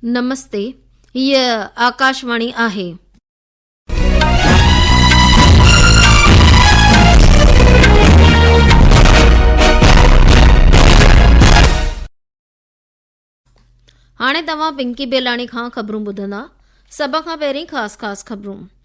نمستي هيء آڪاشواڻي آهي. هاڻي توهان پنڪي بيلاڻي کان خبرون ٻڌندا سڀ کان پهرين خاص خاص خبرون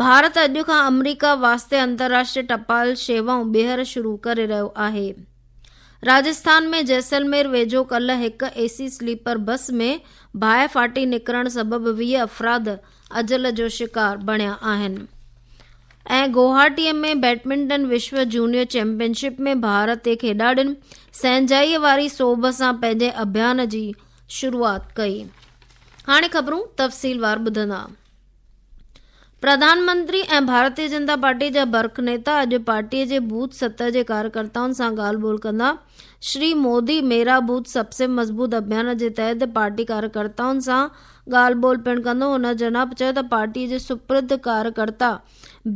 ڀارت اڄ کان آمريڪا واسطي انترراشٽري ٽپال شيوائون ٻيهر شروع ڪري رهيو آهي راجسٿان ۾ جيسلمير ويجهو ڪلهه هڪ اي سي سليپر بس ۾ باهه ڦاٽي نڪرڻ سبب ويهه افراد اجل جو شڪار بڻيا آهن ۽ گوهاٽي ۾ بيڊمنٽن وشو جونيئر چيمپيئنشپ ۾ ڀارتي کيڏاڙين سهنجائيء واري سوڀ سان پنهنجي اڀيان جي شروعات ڪئي هاڻي خبرون تفصيلوار ٻڌندا پرڌانمنتري ۽ ڀارتي جنتا پارٽي جا برک نيتا اڄ پارٽي جي بوٿ ستر جي ڪاريڪرتائن سان ڳالهه ٻولهه ڪندا. شري مودي ميرا بوٿ سب سي مضبوط اڀيان جي تحت پارٽي ڪاريڪرتائن سان ڳالهه ٻولهه پڻ ڪندو. هن جناب چيو ته پارٽي جي سپرد ڪاريڪرتا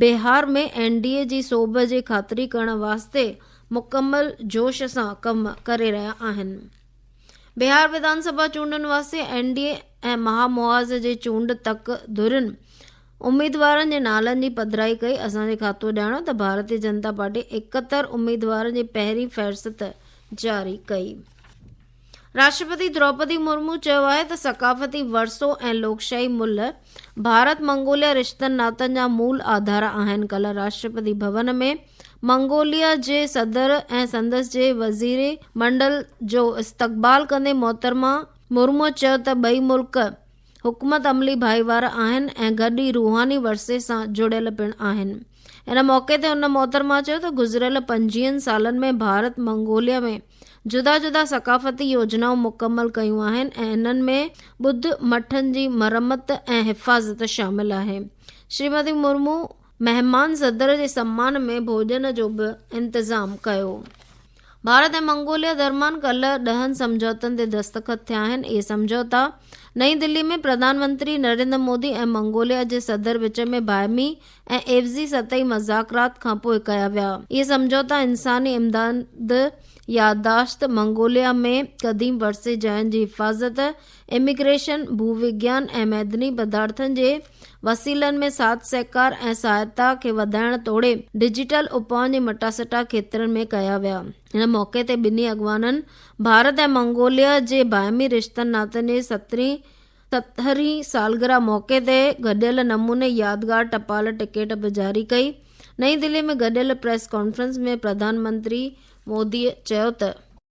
بهار ۾ اين ڊي اي جي سوڀ جي خاطري ڪرڻ واسطي مڪمل جوش سان ڪم ڪري رهيا آهن. بهار وڌانسڀا چونڊن واسطي اين ڊي اي ۽ مها محاذ جي چونڊ تڪ ڌرين اميدوارن جي نالن جي پڌرائي ڪئي، اسان جي کاتو ڄاڻايو ته ڀارتي جنتا پارٽي اڪهتر اميدوارن جي پهرين فهرست جاري ڪئي. راشٽرپتي دروپدي مرمو چيو آهي ته ثقافتي ورثو ۽ لوڪشاهي ملهه ڀارت منگوليا رشتن ناتن جا مول آڌار آهن ڪلهه راشٽرپتي ڀون ۾ منگوليا جي صدر ۽ سندس جي وزير منڊل جو استقبال ڪندي محترمه مرمو چيو ته ٻئي ملڪ حڪمت عملي ڀائيوارا آهن ۽ گڏ ئي روحاني ورثي سان جڙيل پڻ آهن. ان موقعي تي ان محترمه چيو ته گذريل پنجين سالن ۾ ڀارت منگوليا ۾ جدا جدا ثقافتي يوجنائون مڪمل ڪيون آهن ۽ انهن ۾ ٻڌ مٺن جي مرمت ۽ حفاظت شامل آهي. شريمتي مرمو مهمان صدر جي سمان ۾ ڀوڄن جو به انتظام ڪيو. ڀارت ۽ منگوليا درمان ڪلهه ڏهن سمجهوتن تي دستخط ٿيا آهن. اهي سمجهوتا نئين دهلي ۾ پرڌان منتري نريندر مودي ۽ منگوليا جي صدر وچ ۾ باهمي ۽ عيوضي سطحي مذاڪرات کانپوء ڪيا ويا. اهي سمجهوتا انساني امداد، يادداشت، منگوليا ۾ قديم ورثي جاين جي حفاظت، اميگريشن، ڀووگيان ۽ معدني پدارٿن جي وسيلن ۾ ساٿ سهڪار ۽ سهائتا کي وڌائڻ توڙي ڊجيٽل اپائن جي مٽاسٽا کيترن ۾ ڪيا ويا. هن موقعي تي ٻنهي اڳواڻن ڀارت ۽ منگوليا جي باهمي رشتن ناتن جي سترهين سترهين سالگرهه موقعي تي گڏيل نموني يادگار ٽپال ٽڪيٽ به جاري ڪئي. نئين دهلي ۾ گڏيل پريس ڪانفرنس ۾ پرڌان منتري مودي چيو ته.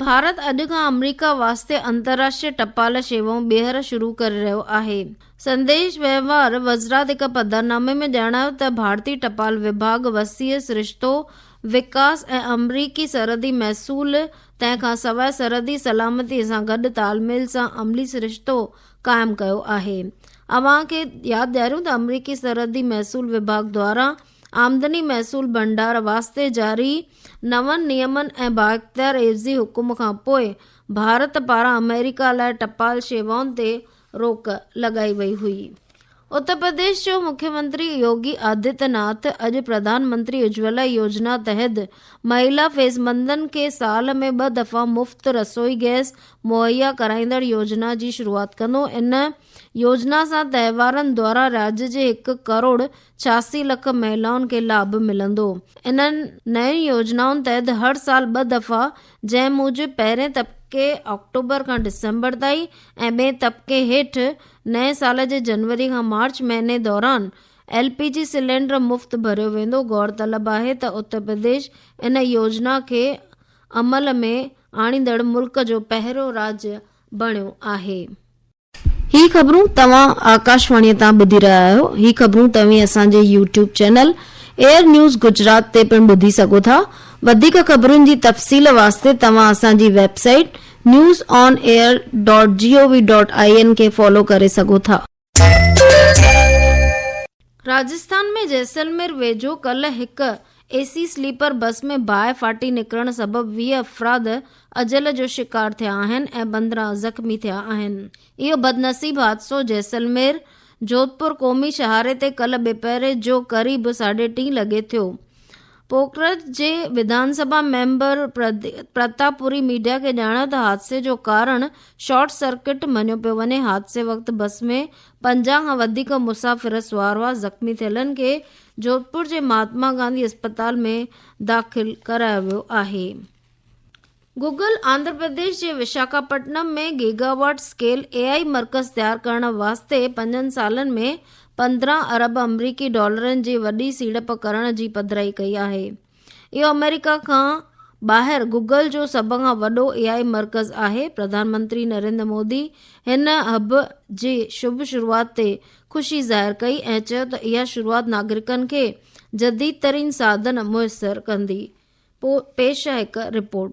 ڀارت اڄ کان آمريڪا واسطي انترراشٽري ٽپال شيوائون ٻيهر شروع ڪري رهيو آهي. سنديش وهنوار وزرات هڪ پڌرنامي ۾ ڄاڻايو ته ڀارتي ٽپال وڀاڳ وسيع سرشتو وڪاس ۽ آمريڪي سرحدي محصول تنهن کان سواء سرحدي سلامتي سان گڏ تال ميل سان عملي سرشتو قائم ڪيو آهي. اوهان کي ياد ڏياريون ته آمريڪي سرحدي محصول وڀاڳ دواران آمدني محصول ڀنڊار واسطي جاري نون نيمن ۽ بااختيار عيوضي حڪم کانپوء ڀارت پاران آمريڪا لاء ٽپال شيوائن تي روڪ لڳائي وئي هئي. اتر پرديش جو مکيمنتري يوگي آدتيه ناٿ اڄ پرڌان منتري اجولا يوجنا تحت مهيلا فيسبندن کي سال ۾ ٻه دفعا مفت رسوئي گئس مهيا ڪرائيندڙ يوجنا جي شروعات ڪندو ان يوجنا سان تهوارن دوران راڄ جي هڪ ڪروڙ ڇياسي لک مهلائن کي لاڀ ملندو. انهن نين يوجنائن تحت هر سال ٻه دفعا جنهن موجب پهرين طبقي آڪٽوبر کان ڊسمبر تائين ۽ ٻئي طبقي هيٺ نئين سال جي جنوري کان مارچ مهيني دوران ايل پي جي سلينڊر مفت ڀريو ويندو غورطلب آهي ته اترپرديش ان يوجنا کي عمل ۾ آڻيندڙ ملڪ جو پهريون راڄ بڻيو آهي. هي خبرون توهان آڪاشواڻيء تان ٻڌي رهيا آهيو. هي خبرون توهين اسان جي YouTube channel Air News Gujarat تي پڻ ٻڌي سگهو ٿا. وڌيڪ خبرن جي تفصيل واسطي توهان اسان جي website news on air dot G O V dot I N کي فالو ڪري سگهو ٿا. راجسٿان ۾ جيسلمير ويجهو ڪلهه هڪ اي سي سليپر بس ۾ باهه ڦاٽي نڪرڻ سبب ويهه افراد اجل جو شڪار ٿيا آهن ۽ پندرهن زخمي ٿيا آهن. اهو بدنصيب حادثو جيسلمير جوڌپور قومي شاهراهه تي ڪلهه ٻپهر جو قريب ساڍي ٽين لڳي ٿيو. پوکرج جي وڌان سڀا ميمبر پرتاپ پوري ميڊيا کي ڄاڻايو ته حادثي جو ڪارڻ شارٽ سرڪٽ مڃيو پيو وڃي، حادثي وقت بس ۾ پنجاهه کان وڌيڪ مسافر سوار هئا، زخمي ٿيلن کي جوڌپور جي مهاتما گانڌي اسپتال ۾ داخل ڪرايو ويو آهي. گوگل آنڌرا پرديش جي Visakhapatnam ۾ gigawatt scale A I مرڪز تيار ڪرڻ واسطي پنجن سالن ۾ پندرهن ارب آمريڪي ڊالرن جي وڏي سيڙپ ڪرڻ جي پڌرائي ڪئي آهي. اهو آمريڪا کان ٻاهر گوگل جو سڀ کان وڏو اي آء مرڪز آهي، پرڌان منتري نريندر مودي هن هب جي شڀ شروعات تي خوشي ظاهر ڪئي ۽ چيو ته اها شروعات ناگرڪن کي جديد ترين ساڌن ميسر ڪندي، پيش آهي هڪ رپورٽ.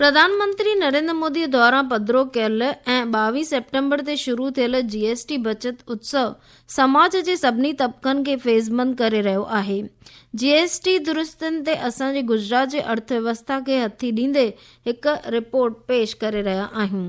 پرڌانمنتري نريندر مودي دوران پڌرو ڪيل ۽ ٻاويهه سيپٽمبر تي شروع ٿيل جي ايس ٽي بچت اتسو سماج جي سڀني طبقن کي فيضمند ڪري رهيو آهي. جي ايس ٽي درستين تي اسان جي گجرات جي ارٿ ويوسٿا کي هٿي ڏيندي هڪ رپورٽ پيش ڪري رهيا آهيون.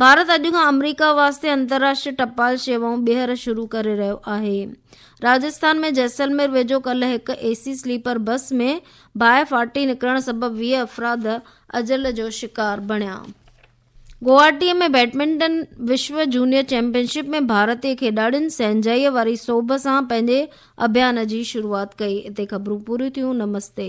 ڀارت اڄ کان آمريڪا واسطي انترراشٽري ٽپال شيوائون ٻيهر شروع ڪري رهيو آهي راجسٿان ۾ جيسلمير ويجهو ڪلهه هڪ اي سي سليپر بس ۾ باهه ڦاٽي نڪرڻ سبب ويهه افراد اجل جو شڪار بڻيا گوهاٽي ۾ بيڊمنٽن وشو جونيئر چيمپيئنشپ ۾ ڀارتي کيڏاڙين سهنجائيء واري سوڀ سان پنهنجي اڀيان جي شروعات ڪئي اتي خبرون پوريون ٿيون نمستي